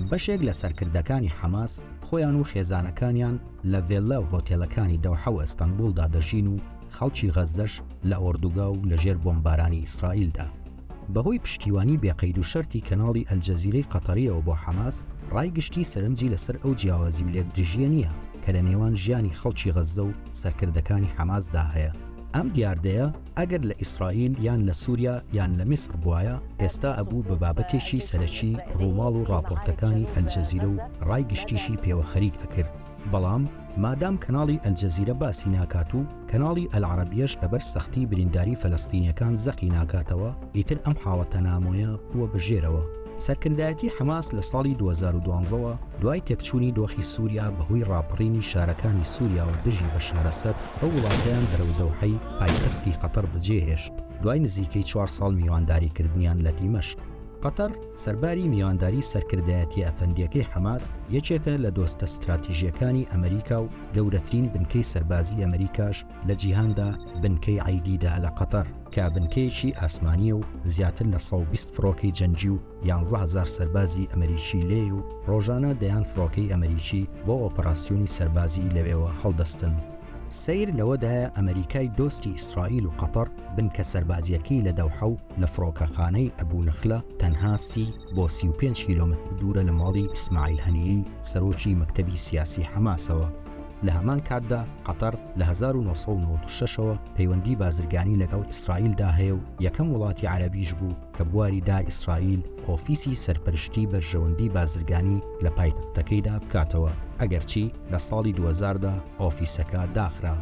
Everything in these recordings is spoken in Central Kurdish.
بەشێک لە سەرکردەکانی حەماس خۆیان و خێزانەکانیان لە ڤێللا و هۆتێلەکانی دەوحە و ئەستەنبوڵدا دەژین و خەڵکی غەززەش لە ئۆردوگا و لەژێر بۆمبارانی ئیسرائیلدا. بەهۆی پشتیوانی بێ قەید و شەرتی کەناڵی ئەلجەزیرەی قەتەرییەوە بۆ حەماس، ڕای گشتی سەرنجی لەسەر ئەو جیاوازی و لێکدژییە نییە کە لە نێوان ژیانی خەڵکی غەززە و سەرکردەکانی حەماسدا هەیە. ئەم دیاردەیە ئەگەر لە ئیسرائیل یان لە سوریا یان لە میسڕ بوایە ئێستا ئەبوو بە بابەتێکی سەرەکی ڕووماڵ و ڕاپۆرتەکانی ئەلجەزیرە و ڕای گشتیشی پێوە خەریک ئەکرد بەڵام مادام کەناڵی ئەلجەزیرە باسی ناکات و کەناڵی ئەلعەرەبیەش لەبەر سەختی برینداری فەلەستینیەکان زەقی ناکاتەوە ئیتر ئەم حاڵەتە نامۆیە بووە بە ژێرەوە. سەرکردایەتی حەماس لە ساڵی دوو هەزار و دوازدە وە دوای تێکچوونی دۆخی سوریا بەهۆی ڕاپەڕینی شارەکانی سوریاوە دژی بەشار ئەسەد ئەو وڵاتەیان بەرەو دەوحەی پایتەختی قەتەر بەجێهێشت، دوای نزیکەی چوار ساڵ میوانداریکردنیان لە دیمەشق. قەتەر سەرباری میوانداری سەرکردایەتیە ئەفەندیەکەی حەماس، یەکێکە لە دۆستە ستراتیژیەکانی ئەمریکا و گەورەترین بنکەی سەربازی ئەمریکاش لە جیهاندا بنکەی عەیدیدە لە قەتەر کە بنکەیەکی ئاسمانیە و زیاتر لە سەد و بیست فڕۆکەی جەنگی و یانزە هەزار سەربازی ئەمریکی لێیە و ڕۆژانە دەیان فڕۆکەی ئەمریکی بۆ ئۆپەراسیۆنی سەربازی لەوێوە هەڵدەستن. سەیر لەوەدایە ئەمەریکای دۆستی ئیسرائیل و قەتەڕ بنکە سەربازییەکەی لە دەوحە و لە فڕۆکەخانەی ئەبو نخلە تەنها سی بۆ سی و پێنج کیلۆمەتر دوورە لە ماڵی ئیسماعیل هەنیەی سەرۆکی مەکتەبی سیاسی حەماسەوە. لە هەمان کاتدا قەتەڕ لە هەزار و نۆ سەد و نەوەد و شەش ەوە پەیوەندی بازرگانی لەگەڵ ئیسرائیلدا هەیە و یەکەم وڵاتی عەرەبیش بوو کە بواری دا ئیسرائیل ئۆفیسی سەرپەرشتی بەرژەوەندی بازرگانی لە پایتەختەکەیدا بکاتەوە، ئەگەرچی لە ساڵی دوو هەزار دا ئۆفیسەکە داخرا.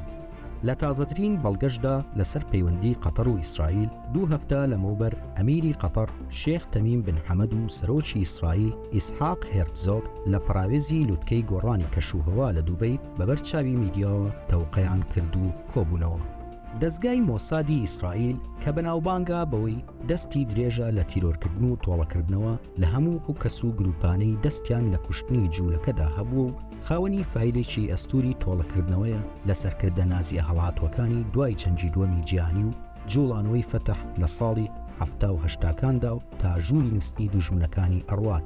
لە تازەترین بەڵگەشدا لەسەر پەیوەندی قەتەر و ئیسرائیل، دوو هەفتە لەمەوبەر ئەمیری قەتەر شێخ تەمیم بن حەمەد و سەرۆکی ئیسرائیل ئیسحاق هێرتزۆگ لە پەراوێزی لوتکەی گۆڕانی کەشوهەوا لە دوبەی بەبەر چاوی میدیاوە تەوقەیان کرد و کۆبوونەوە. دەزگای مۆسادی ئیسرائیل کە بەناوبانگە بەوەی دەستی درێژە لە تیرۆرکردن و تۆڵەکردنەوە لە هەموو ئەو کەس و گروپانەی دەستیان لە کوشتنی جوولەکەدا هەبووە و خاوەنی فایلێکی ئەستوری تۆڵەکردنەوەیە لە سەرکردە نازیە هەڵاتوەکانی دوای جەنگی دوەمی جیهانی و جوڵانەوەی فەتح لە ساڵی حەفتا و هەشتاکاندا و تا ژووری نوستنی دوژمنەکانی ئەڕوات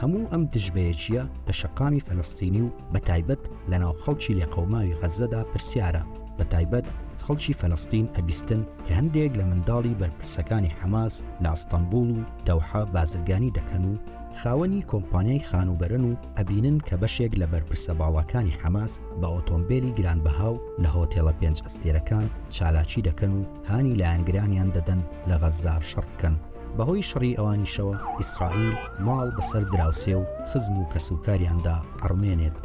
هەموو ئەم دژبەیەکییە لە شەقامی فەلەستینی و بە تایبەت لە ناو خەڵکی لێقەوماوی غەززەدا پرسیارە، بە تایبەت خەڵکی فەلەستین ئەبیستن کە هەندێک لە منداڵی بەرپرسەکانی حەماس لە ئەستەنبوڵ و دەوحە بازرگانی دەکەن و خاوەنی کۆمپانیای خانووبەرەن و ئەبینن کە بەشێک لە بەرپرسە باڵاکانی حەماس بە ئۆتۆمبێلی گرانبەها و لە هۆتێڵە پێنج ئەستێرەکان چالاکی دەکەن و هانی لایەنگرانیان دەدەن لە غەززە شەڕ بکەن. بەهۆی شەڕی ئەوانیشەوە ئیسرائیل ماڵ بەسەر دراوسێ و خزم و کەسوکاریاندا ئەڕمێنێت.